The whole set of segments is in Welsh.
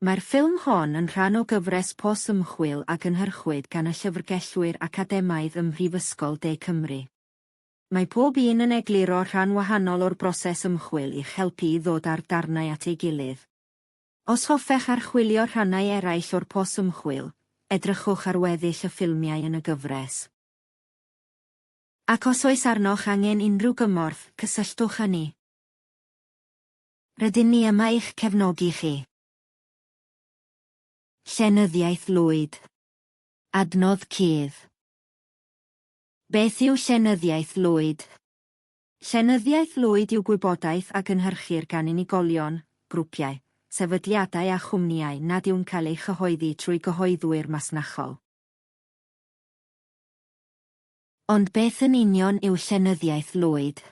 Mae'r ffilm hon yn rhan o gyfres pos ymchwil a gynhyrchwyd gan y llyfrgellwyr academaidd ym Mhrifysgol De Cymru. Mae pob un yn egluro rhan wahanol o'r broses ymchwil i'ch helpu i ddod â'r darnau at ei gilydd. Os hoffech archwilio rhannau eraill o'r pos ymchwil, edrychwch ar weddill y ffilmiau yn y gyfres. Ac os oes arnoch angen unrhyw gymorth, cysylltwch â ni. Rydyn ni yma i'ch cefnogi chi. Llenyddiaeth Lwyd. Adnodd cudd. Beth yw Llenyddiaeth Lwyd? Llenyddiaeth Lwyd yw gwybodaeth a gynhyrchir gan unigolion, grwpiau, sefydliadau a chwmnïau nad yw'n cael ei chyhoeddi trwy gyhoeddwyr masnachol. Ond beth yn union yw Llenyddiaeth Lwyd?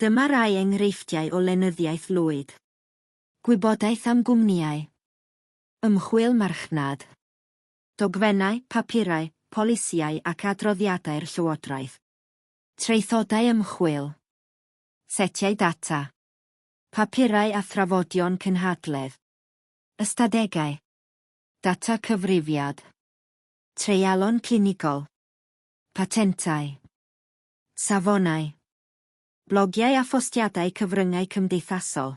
Dyma rai enghreifftiau o lenyddiaeth lwyd. Gwybodaeth am gwmnïau. Ymchwil marchnad. Dogfennau, papurau, polisïau ac adroddiadau'r llywodraeth. Traethodau ymchwil. Setiau data. Papurau a thrafodion cynhadledd. Ystadegau. Data cyfrifiad. Treialon clinigol. Patentau. Safonau. Blogiau a phostiadau cyfryngau cymdeithasol.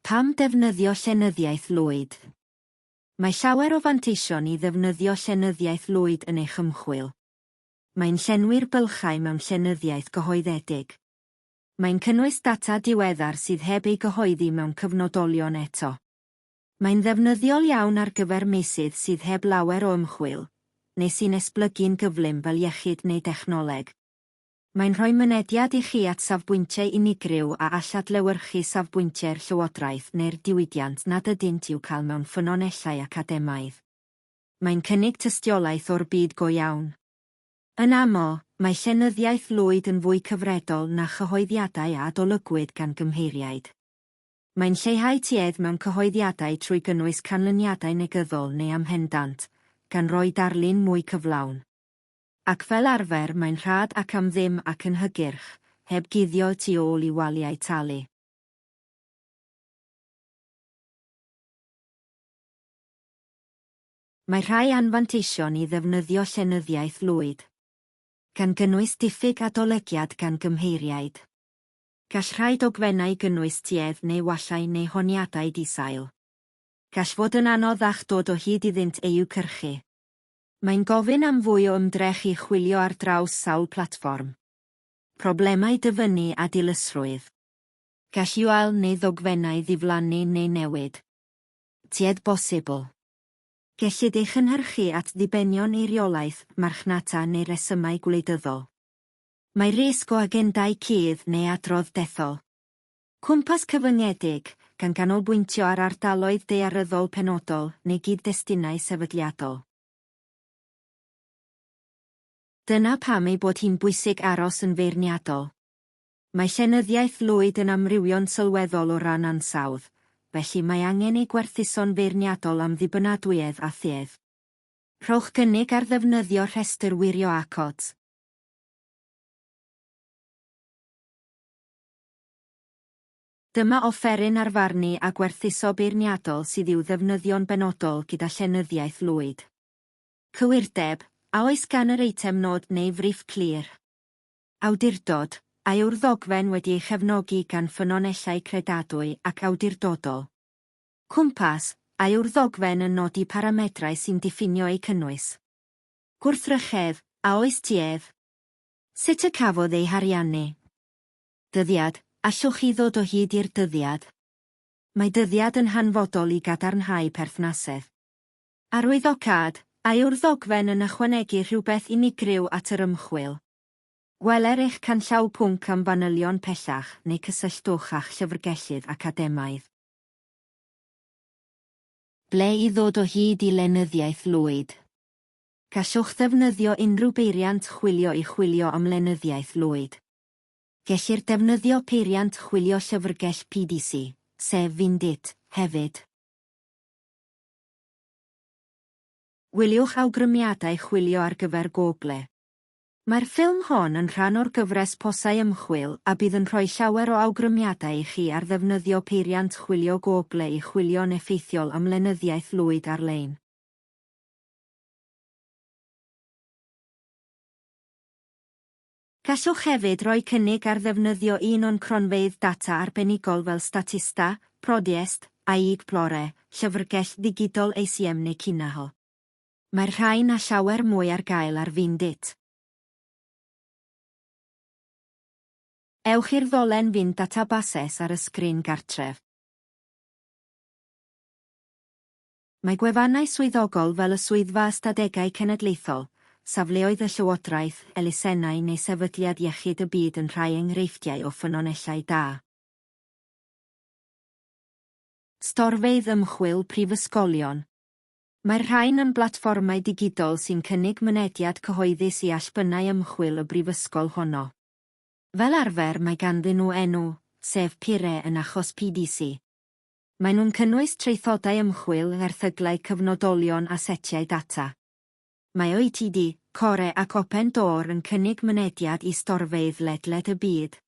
Pam defnyddio llenyddiaeth lwyd? Mae llawer o fanteision i ddefnyddio llenyddiaeth lwyd yn eich ymchwil. Mae'n llenwi'r bylchau mewn llenyddiaeth gyhoeddedig. Mae'n cynnwys data diweddar sydd heb ei gyhoeddi mewn cyfnodolion eto. Mae'n ddefnyddiol iawn ar gyfer meysydd sydd heb lawer o ymchwil, neu sy'n esblygu'n gyflym fel iechyd neu dechnoleg. Mae'n rhoi mynediad i chi at safbwyntiau unigryw a all adlewyrchu safbwyntiau'r llywodraeth neu'r diwydiant nad ydynt i'w cael mewn ffynonellau academaidd. Mae'n cynnig tystiolaeth o'r byd go iawn. Yn aml, mae llenyddiaeth lwyd yn fwy cyfredol na chyhoeddiadau a adolygwyd gan gymheiriaid. Mae'n lleihau tuedd mewn cyhoeddiadau trwy gynnwys canlyniadau negyddol neu amhendant, gan roi darlun mwy cyflawn. Ac fel arfer mae'n rhad ac am ddim ac yn hygyrch, heb guddio y tu ôl i waliau talu. Mae rhai anfanteision i ddefnyddio llenyddiaeth lwyd, gan gynnwys diffyg adolygiad gan gymheiriaid. Gall rhai dogfennau gynnwys tuedd neu wallau neu honiadau di-sail. Gall fod yn anodd â'ch dod o hyd iddynt eu cyrchu. Mae'n gofyn am fwy o ymdrech i chwilio ar draws sawl platfform. Problemau dyfynnu a dilysrwydd. Gall URL neu ddogfennau ddiflannu neu newid. Tuedd bosibl. Gellid ei chynhyrchu at ddibenion eiriolaeth, marchnata neu resymau gwleidyddol. Mae risg o agendâu cudd neu adrodd dethol. Cwmpas cyfyngedig, gan ganolbwyntio ar ardaloedd daearyddol penodol neu gyd-destunau sefydliadol. Dyna pam ei bod hi'n bwysig aros yn feirniadol. Mae llenyddiaeth lwyd yn amrywio'n sylweddol o ran ansawdd, felly mae angen ei gwerthuso'n feirniadol am ddibynadwyedd a thuedd. Rhowch gynnig ar ddefnyddio rhestr wirio ACOTS. Dyma offeryn ar farnu a gwerthuso beirniadol sydd i'w ddefnyddio'n benodol gyda llenyddiaeth lwyd. Cywirdeb, a oes gan yr eitem nod neu friff clir? Awdurdod, a yw'r ddogfen wedi ei chefnogi gan ffynonellau credadwy ac awdurdodol? Cwmpas, a yw'r ddogfen yn nodi paramedrau sy'n diffinio ei cynnwys? gwrthrychedd, a oes ti ef? Sut y cafodd ei hariannu? Dyddiad, allwch chi ddod o hyd i'r dyddiad? Mae dyddiad yn hanfodol i gadarnhau perthnasedd. Arwyddocâd, a yw'r ddogfen yn ychwanegu rhywbeth unigryw at yr ymchwil? Gweler eich canllaw pwnc am fanylion pellach neu cysylltwch â'ch llyfrgellydd academaidd. Ble i ddod o hyd i lenyddiaeth Lwyd? Gallwch ddefnyddio unrhyw beiriant chwilio i chwilio am lenyddiaeth Lloyd. Gellir defnyddio peiriant chwilio llyfrgell PDC, sef Vindit, hefyd. Gwyliwch awgrymiadau chwilio ar gyfer Google. Mae'r ffilm hon yn rhan o'r gyfres Posau Ymchwil a bydd yn rhoi llawer o awgrymiadau i chi ar ddefnyddio peiriant chwilio Google i chwilio'n effeithiol am lenyddiaeth Lloyd ar-lein. Gallwch hefyd roi cynnig ar ddefnyddio un o'n cronfeydd data arbenigol fel Statista, Prodiest, AExplore, Llyfrgell Ddigidol ACM neu Kinaho. Mae'r rhain a llawer mwy ar gael ar Findit. Ewch i'r ddolen Find Databases ar y sgrin gartref. Mae gwefannau swyddogol fel y Swyddfa Ystadegau Cenedlaethol, safleoedd y llywodraeth, elusennau neu Sefydliad Iechyd y Byd yn rhai enghreifftiau o ffynonellau da. Storfeydd Ymchwil Prifysgolion Mae'r rhain yn blatfformau digidol sy'n cynnig mynediad cyhoeddus i allbynnau ymchwil y brifysgol honno. Fel arfer mae ganddyn nhw enw, sef PIRE yn achos PDC. Maen nhw'n cynnwys traethodau ymchwil, erthyglau cyfnodolion a setiau data. Mae OETD, Core ac Open Door yn cynnig mynediad i storfeydd ledled y byd.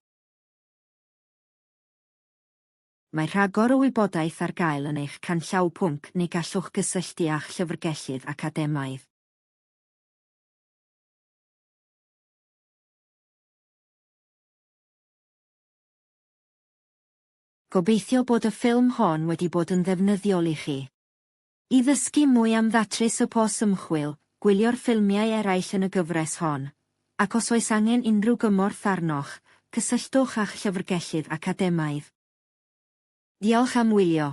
Mae rhagor o wybodaeth ar gael yn eich canllaw pwnc neu gallwch gysylltu â'ch llyfrgellydd academaidd. Gobeithio bod y ffilm hon wedi bod yn ddefnyddiol i chi. I ddysgu mwy am ddatrys y pos ymchwil, gwylio'r ffilmiau eraill yn y gyfres hon, ac os oes angen unrhyw gymorth arnoch, cysylltwch â'ch llyfrgellydd academaidd. Diolch am wylio.